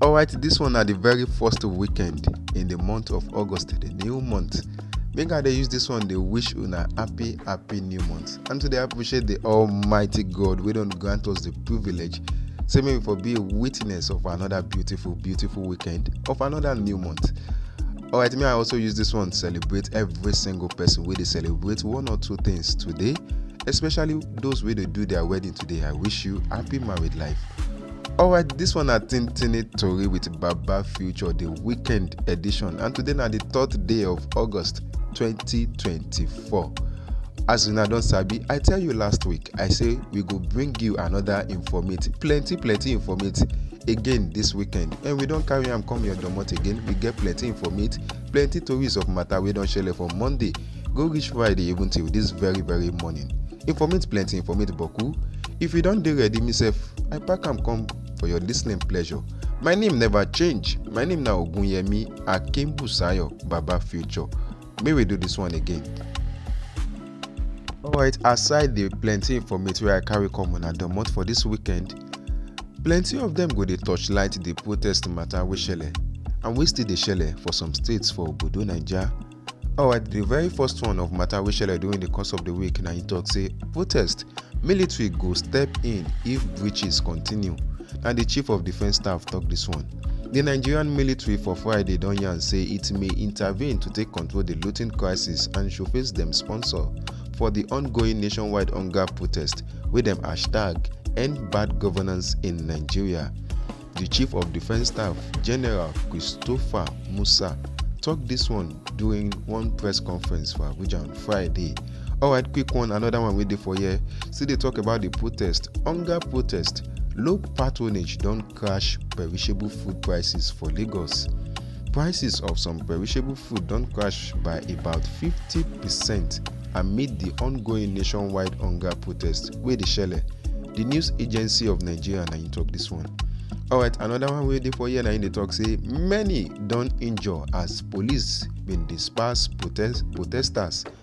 Alright, this one na the very first weekend in the month of August, the new month. Make I dey use this one dey wish una happy happy new month and to dey appreciate the almighty God wey don grant us the privilege say make we for be a witness of another beautiful beautiful weekend of another new month. Alright, may I also use this one to celebrate every single person wey dey celebrate one or two things today, especially those wey dey do their wedding today. I wish you happy married life. Alright, this one na Tintini Tori with Baba Future, the weekend edition, and today na the third day of August 2024. As una don sabi, I tell you last week, I say we go bring you another informate, plenty plenty informate again this weekend, and we don carry am come your domot again. We get plenty informate, plenty tories of matter wey don shele for Monday go reach friday even till this very very morning informate plenty informate boku if you don dey ready me sef i pack am come for your listening pleasure my name never change my name na ogunyemi akimbusayo baba future may we do this one again. alright aside the plenty informate wey i carry come una domot for this weekend plenty of them go dey torchlight the protest matter wey shele and wey still dey shele for some states for obodo naija Alright, the very first one of matter we shall do in the course of the week now he talks say protest military go step in if breaches continue. Now the chief of defense staff talk this one. The Nigerian military for Friday don yarn say it may intervene to take control the looting crisis and showface dem sponsor for the ongoing nationwide hunger protest wey dem hashtag end bad governance in Nigeria. Di Chief of Defence Staff, General Christopher Musa, tok dis one during one press conference for Abuja on Friday. Alright, quick one, another one wey dey for here. Still dey talk about di protest, hunger protest. Low patronage don crash perishable food prices for Lagos. Prices of some perishable food don crash by about 50 percent amid di ongoing nationwide hunger protest wey dey shele. Di news agency of Nigeria na im tok dis one. Alright, anoda one wey dey for here na im dey tok say many don injure as police bin disperse protesters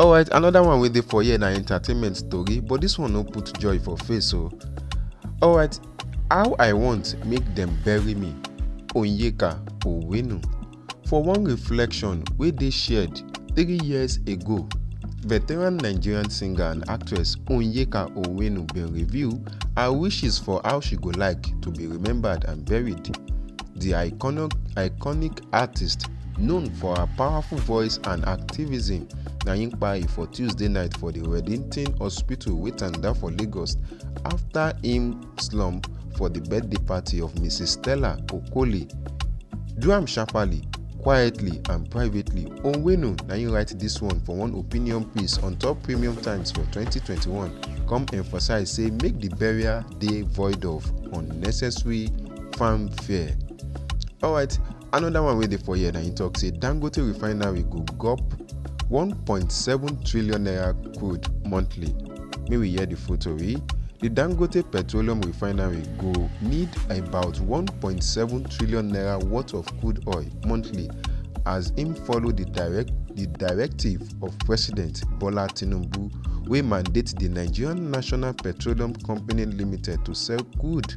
alright another one wey dey for here na entertainment story but this one no put joy for face o alright how i want make dem bury me onyeka owenu for one reflection wey dey shared three years ago veteran nigerian singer and actress onyeka owenu bin reveal her wishes for how she go like to be remembered and buried di iconic artiste known for her powerful voice and activism na im kpai for tuesday night for di reddington hospital wey tanda for lagos afta im slump for di birthday party of mrs stella okoli do am sharparly quietly and privately onwenu na im write dis one for one opinion piece on top premium times for 2021 come emphasise say make di burial dey void of unnecessary fanfare alright another one wey dey for here na im talk say dangote refinery go gop 1.7 trillion naira crude monthly make we hear the full tori the dangote petroleum refinery go need about 1.7 trillion naira worth of crude oil monthly as im follow di direct di directive of president bola tinubu wey mandate di nigerian national petroleum company limited to sell crude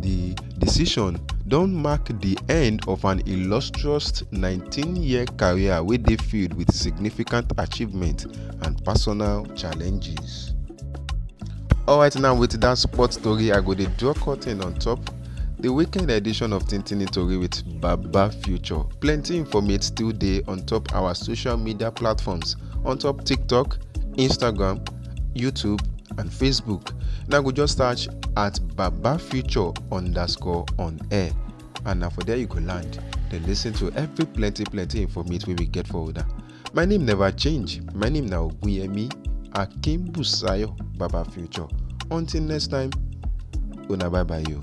Di decision don mark di end of an illustrious 19-year career wey dey filled wit significant achievements and personal challenges. Alright now with dat sport tori I go dey draw curtain on top di weekend edition of Tintini Tori with Baba Future. Plenty informate still dey on top our social media platforms on top TikTok, Instagram, YouTube, and Facebook. Now go just search at Baba Future underscore on air. And now for there you go land. Then listen to every plenty plenty information we will get for that. My name never change. My name now Guyemi Akim Busayo Baba Future. Until next time, una bye bye you.